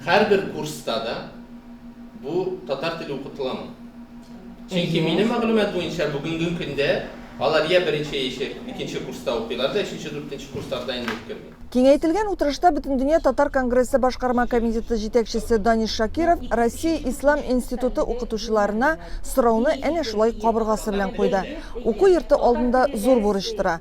Һәрбер курста да бу татар теле укытыламы? Чөнки минем мәгълүмат буенча бүгенге көндә алар йә беренче яшәй икенче курста укыйлар да өченче дүртенче курсларда инде үткерми. Киңәйтелгән утырышта Бөтендөнья татар конгрессы башкарма комитеты җитәкчесе Даниш Шакиров Россия ислам институты укытучыларына сорауны әнә шулай кабыргасы белән куйды. Уку йорты алдында зур бурыч тора.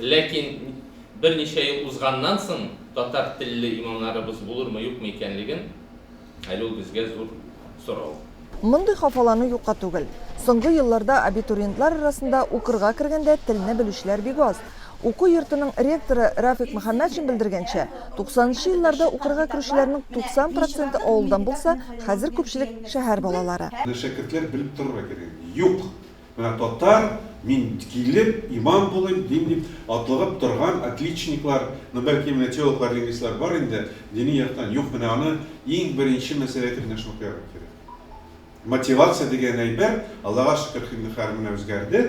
Ләкин берничә ел узганнан соң татар телле имамнарыбыз булырмы-юкмы икәнлеген әле ул безгә зур сорау. Мондый хафалану юкка түгел. Соңгы елларда абитуриентлар арасында укырга кергәндә телне белүчеләр бик аз. Уку йортының ректоры Рафик Мөхәммәтшин белдергәнчә, туксанынчы елларда укырга керүчеләрнең 90 проценты авылдан булса, хәзер күпчелек шәһәр балалары. Менә шәкертләр белеп торырга кирәк. Юк! Менә татар, мин килеп, имам булыйм, дин дип атлыгып торган отличниклар, ну, бәлки, менә теологлар, лингвистлар бар инде, дини яктан юк, менә аны иң беренче мәсьәлә итеп менә шуны куярга кирәк. Мотивация дигән әйбер, Аллага шөкер, Хиндехар менә үзгәрде,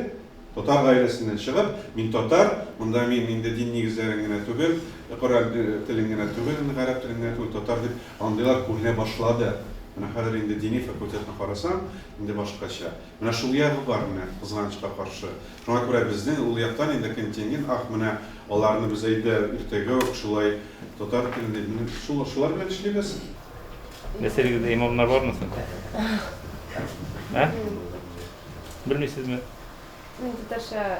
татар гаиләсеннән чыгып, мин татар, монда мин инде дин нигезләрен генә түгел, Коръән телен генә түгел, гарәп телен генә түгел, татар дип андыйлар күренә башлады. Менә хәзер инде дини факультетны карасаң, инде башкача. Менә шул ягы бар, менә, кызганычка каршы. Шуңа күрә безнең ул яктан инде контингент, ах, менә аларны без әйдә, иртәгә үк шулай татар телендә, менә шул, шулар белән эшлибез. Нәселегездә имамнар бармы соң? Ә? Белмисезме? Мин татарча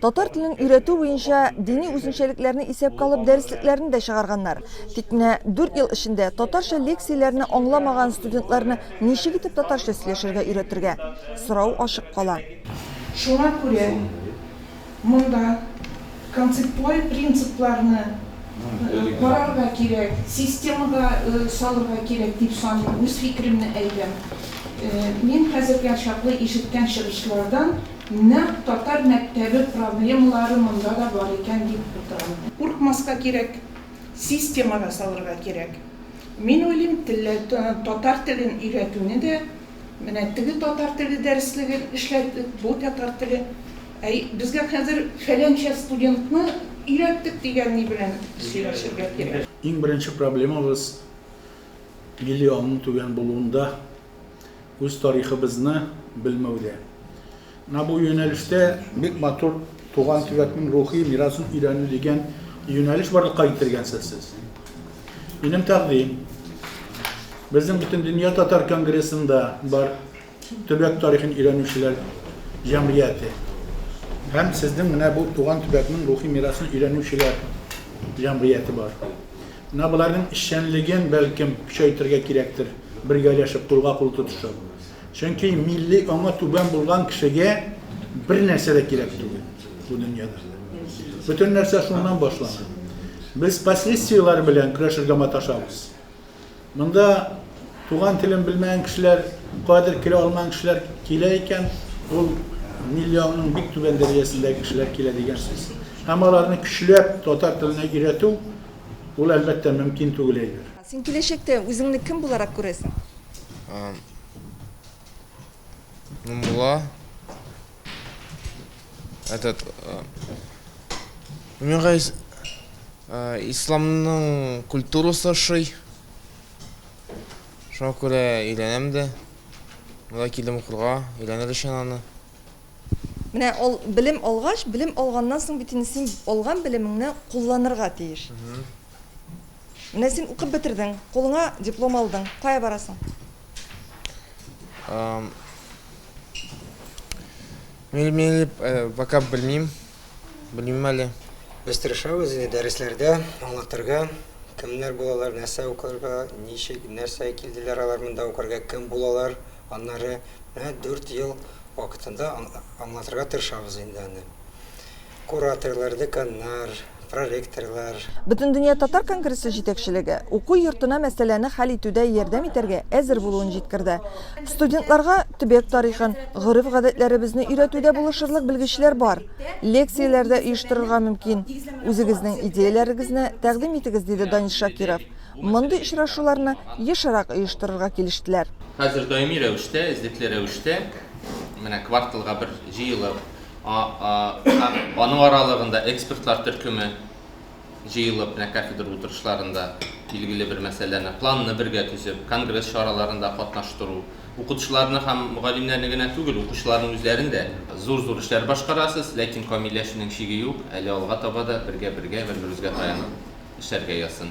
Татар телен өйрәтү буенча дини үзенчәлекләрне исәпкә алып дәреслекләрне дә чыгарганнар. Тик менә дүрт ел эчендә татарча лекцияләрне аңламаган студентларны ничек итеп татарча сөйләшергә өйрәтергә? Сорау ачык кала. Шуңа күрә монда концептуаль принципларны карарга кирәк, системага салырга кирәк дип саныйм, үз фикеремне әйтәм. Мин хәзергә чаклы ишеткән чыгышлардан, Нәкъ татар мәктәбе проблемалары монда да бар икән дип утырам мин. Куркмаска кирәк, системага салырга кирәк. Мин уйлыйм, татар телен өйрәтүне дә менә теге татар теле дәреслеген эшләдек, бу татар теле. Әй, безгә хәзер фәләнчә студентны өйрәттек дигәнни белән сөйләшергә кирәк. Иң беренче проблемабыз миллионның түбән булуында. Үз тарихыбызны белмәүдә. Менә бу юнәлештә бик матур туган төбәкнең рухи мирасын өйрәнү дигән юнәлеш барлыкка китергәнсез сез. Минем тәкъдим безнең бөтен дөнья татар конгрессында бар төбәк тарихын өйрәнүчеләр җәмгыяте һәм сезнең менә бу туган төбәкнең рухи мирасын өйрәнүчеләр җәмгыяте бар. Менә боларның эшчәнлеген, бәлкем, көчәйтергә кирәктер, бергәләшеп, кулга-кул тотышып. Чөнки милли аңы түбән булган кешегә бернәрсә дә кирәк түгел бу дөньяда. Бөтен нәрсә шуннан башлана. Без последствиеләр белән көрәшергә маташабыз. Монда туган телен белмәгән кешеләр, кадер керә алмаган кешеләр килә икән, ул милли аңның бик түбән дәрәҗәсендәге кешеләр килә дигән сүз. Һәм аларны көчләп татар теленә өйрәтү, Ул, әлбәттә, мөмкин түгел әйбер. Син киләчәктә үзеңне кем буларак күрәсең? Ну, була. Этот... Мин гайс... Исламның культурасы шый. Шуңа күрә өйрәнәм дә. Монда килдем укырга, өйрәнер өчен аны. Менә ул белем алгач, белем алганнан соң бит инде син алган белемеңне кулланырга тиеш. Менә син укып бетердең, кулыңа диплом алдың. Кая барасың? Эм, Мин мин э, пока белмим. Белмим әле. Без тырышабыз инде дәресләрдә аңлатырга, кемнәр булалар, нәрсә укырга, ничек, нәрсә килделәр алар монда укырга, кем булалар, Аннары менә дүрт ел вакытында аңлатырга тырышабыз инде аны. Кураторлар, деканнар, проректорлар. Бөтендөнья татар конгрессы җитәкчелеге уку йортына мәсьәләне хәл итүдә ярдәм итәргә әзер булуын җиткерде. Студентларга төбәк тарихын, гореф-гадәтләребезне өйрәтүдә булышырлык белгечләр бар. Лекцияләр дә оештырырга мөмкин. Үзегезнең идеяләрегезне тәкъдим итегез, диде Данис Шакиров. мондый очрашуларны ешрак оештырырга килештеләр. Хәзер даими рәвештә, эзлекле рәвештә, менә кварталга бер җыелып, аның аралыгында экспертлар төркеме җыелып, менә кафедра утырышларында билгеле бер мәсьәләне, планны бергә төзеп, конгресс чараларында катнаштыру, укытучыларны һәм мөгаллимнәрне генә түгел, укучыларның үзләрен дә. Зур-зур эшләр башкарасыз, ләкин камилләшүнең чиге юк, әле алга таба да бергә-бергә, бер-беребезгә таянып. эчәргә язсын.